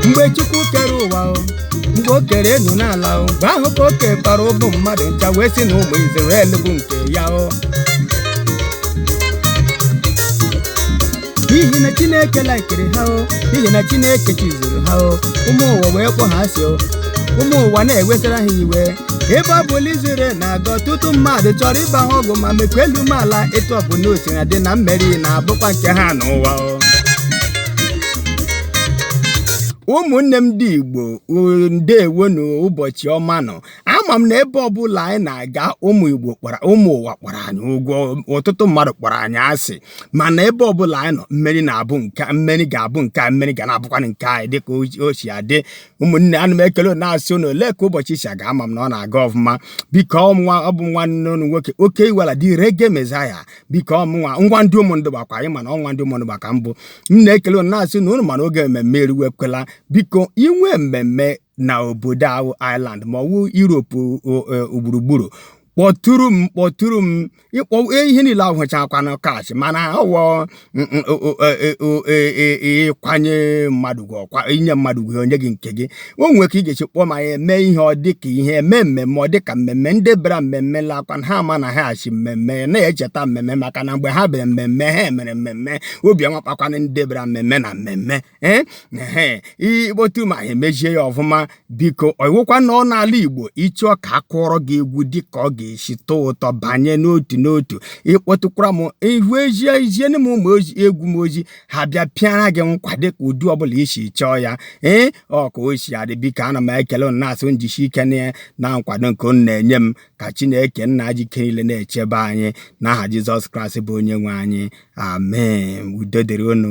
mgbe chukwu kere ụwa o mgbe o kere enu na ala o mgbe ahụ ka o kekpara ụmụ mmadụ ncha wee sị na ụmụ izrel bụ nke ya o n'ihi na chineke laikiri ha o n'ihi na chineke chizuru ha o ụmụ ụwa wee kpọ ha asị o ụmụ ụwa na-ewesara ha iwe ebe ọ bụla izrel na-aga ọtụtụ mmadụ chọrọ ịba ha ọgụ ma mekwa elu mee ala etu ọbụla o sina dị na mmeri na-abụkwa nke ha n'ụwa o ụmụnne m ndị igbo ndeewonụ ụbọchị ọma nụ ama m na ebe ọbụla anyị na-aga ụmụ igbo kpọrọ ụmụ ụwa kpọrọ anyị ụgwụ ọtụtụ mmadụ kpọrọ anyị asị mana ebe ọbụla anyị nọ mmeri na-abụ nke mmeri ga-abụ nke a mmeri ga na-abụkwanụ nke anyị dịka o si adị ụmụnne ana m ekele na-asị ụnụ olee ka ụbọchị si aga ama m na ọ na-aga ọfụma biko ọnwa ọ bụ nwanne ụnụ nwoke oke iwala the reggae messiah biko ọ mụnwa ọnwa ndị ụmụndụgba kwa ị ma na ọnwa ndị ụmụndụgba ka m bụ m na-ekele unu na-asị na unu ma na oge mmemme eruwekwala biko i nwee mmemme na obodo ahụ Ireland ma ọ wụ Europe gburugburu kpọtụrụ m kpọtụrụ m ịkpọ ihe niile awụchakwanụ cash mana ọ wụ ịkwanye mmadụ gị ọkwa inye mmadụ gị onye gị nke gị o nwere ka ị ga-esi kpọọ ma ya eme ihe ọ dị ka ihe eme mmemme ọ dị ka mmemme ndị bịara mmemme lakwa na ha ama na ha si mmemme na-echeta mmemme maka na mgbe ha bịara mmemme ha mere mmemme obi amakpakwana ndị bịara mmemme na mmemme ee ehe ị kpọtụ ma ha emezie ya ọfụma biko ọ wụkwa na ọ n'ala igbo ị chọọ ka a kụọrọ gị egwu dị ka ọ ga-esi tọọ ụtọ banye n'otu n'otu ị kpọtụkwara m ihu ezie eziere m ụmụ ozi egwu m ozi ha bịa pịara gị nkwa dịka ụdị ọbụla i si chọọ ya ee ọ ka o si adị biko ana m ekele unu na-asị njisi ike na na nkwado nke unu na-enye m ka chineke nna ji ike niile na-echebe anyị n'aha jizọs kraịst bụ onye nwe anyị amen udo dịrị unu